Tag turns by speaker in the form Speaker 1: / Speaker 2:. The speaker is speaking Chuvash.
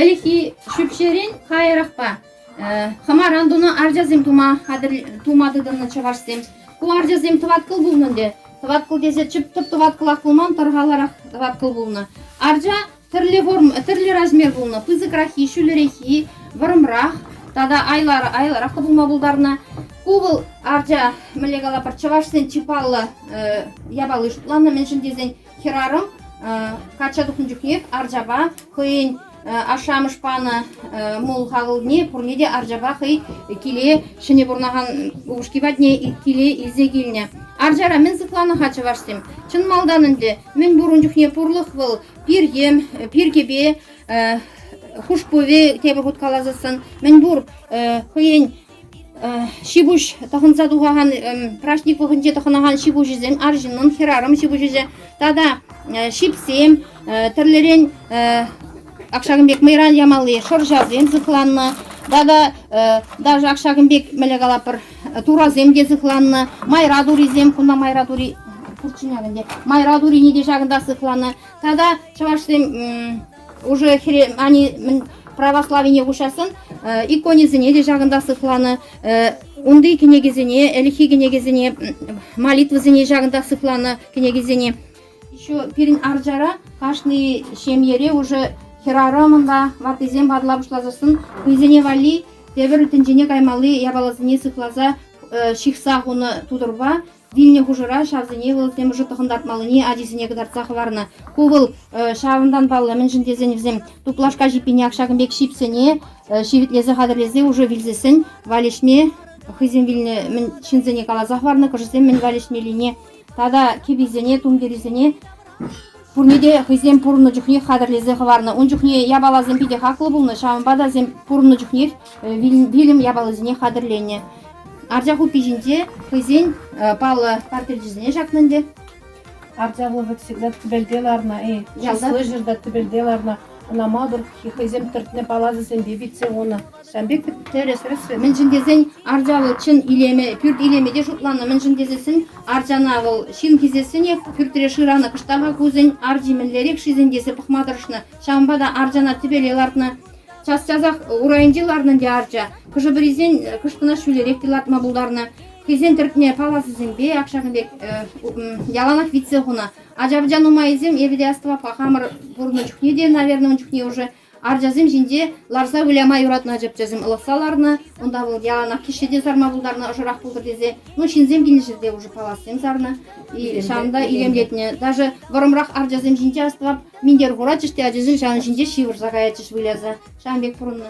Speaker 1: Ӗлӗкхи ҫӳпҫерен каярахпа хӑмаран тунӑ арчасем тума хатӗр тума тытӑннӑ чӑвашсем. Ку арчасем тӑваткӑл пулнӑ ӗнтӗ. Тӑваткӑл тесе чӗптӗр тӑваткӑлах пулман, тӑрхаларах тӑваткӑл пулнӑ. Арча тӗрлӗ форм, тӗрлӗ размер пулнӑ. Пысӑкраххи, ҫӳлереххи, вӑрӑмрах тата айлӑраххӑ пулма пултарнӑ. Ку вӑл арча, мӗнле калапӑр, чӑвашсен чи паллӑ япали шутланнӑ, мӗншӗн тесен Хӗрарӑм качча тухнӑ чухнех арчапа хӑйӗн ашшӗ-амӑш панӑ мул хакӑлне пурне те арчапа хӑй киле ҫӗнӗ пурӑнакан упӑшки патне киле илсе килнӗ. Арчара мӗн сыхланӑ-ха чӑвашсем? Чӑн малтан ӗнтӗ мӗн пур ун чухне пурлӑх вӑл пиркем, пиркепе хушпуве тепӗр хут каласассӑн мӗн пур хӑйӗн ҫипуҫ тӑхӑнса тухакан праҫник вӑхӑтӗнче тӑхӑнакан ҫипуҫӗсем арҫыннӑн хӗрарӑм ҫипуҫӗсем тата ҫипсем тӗрлӗрен ак ҫакӑн пек мӑйран ямалли шӑрҫасем сыхланнӑ тата даже ак ҫакӑн пек мӗле калапӑр турасем те сыхланнӑ майра турисем кунта майра тури пурччен ак ӗнтӗ майра турине те ҫакӑнта сыхланӑ тата чӑвашсем Уже хире, они православине куҫассӑн иконисене те ҫакӑнта сыхланӑ. Унти кӗнекесене, ӗлӗкхи кӗнекесене, молитвӑсене ҫакӑнта сыхланӑ кӗнекесене. Еще пирӗн арчара кашни ҫемьере уже хӗрарӑмӑн ваттисем ватла пуҫласассӑн хӑйсене валли тепӗр тӗнчене каймалли япаласене сыхласа ҫыхса хунӑ тутӑрпа Вилнӗ хушӑра ҫавсене вӑл темиҫе тӑхӑнтартмаллине ачисене кӑтартса хӑварнӑ. Ку вӑл ҫавӑнтан паллӑ, мӗншӗн тесен вӗсем туплашка ҫиппине ҫакӑн пек ҫипсене ҫивӗтлесе хатӗрлесе уже вилсессӗн валеҫме хӑйсем вилнӗ мӗн ҫынсене каласа хӑварнӑ, кӑшисем мӗн валеҫмеллине тата кӗписене, тумтирӗсене Пурне те хӑйсем пурӑннӑ чухне хатӗрлесе хӑварнӑ. Ун чухне япаласем питӗ хаклӑ пулнӑ, ҫавӑнпа та вӗсем пурӑннӑ чухнех вилӗм япалисене хатӗрленӗ. Арча хуппи ҫинче хӑйсен паллӑ портретчӗсене ҫакнӑ ӗнтӗ. Арчалу
Speaker 2: вӑт всегда тӗпелте ларнӑ, эй, часлы ҫӗрта тӗпелте ларнӑ. Ӑна малтӑр хӑйсем тӗртнӗ паласӑсемпе витсе хунӑ. Шампик
Speaker 1: тӗрӗс-рӗсрӗ, мӗншӗн тесен арча вӑл чӑн илеме, пӳрт илеме те шутланӑ, мӗншӗн тесессӗн арчана вӑл ҫын хисессӗнех пӳртре шыранӑ, кӑштаха кусӗн арчи мӗнлерех-шисен тесе пӑхма тӑрӑшнӑ, ҫавӑнпа та арчана тӗпеле лартнӑ. Час-часах урайӗнче ларнӑ ӗнтӗ арча, хӑшӗ-пӗрисен кӑшкӑна ҫӳлерех те лартма пултарнӑ, хӑйсен тӗртме паласӗсемпе ак ҫакӑн пек яланах витсе хунӑ. Ача-пӑча нумайӗсем эпӗ те астӑваппа хамӑр пурӑннӑ чухне те, наверное, ун чухне ӑшӑ Арчасем ҫинче ларса выляма юратнӑ чӗпчесем ылӑхса ларнӑ. Унта вӑл яланах кишсе те сарма пултарнӑ, ӑшӑрах пултӑр тесе. Ну, ҫынсем килнӗ те уже палассем сарнӑ. И ҫавӑн та илемлетнӗ. Даже вӑрӑмрах арчасем ҫинче астӑвап минтер хуратчӗҫ те ачасем ҫавӑн ҫинче ҫывӑрса каятчӗҫ выляса. Ҫавӑн пек пурӑннӑ.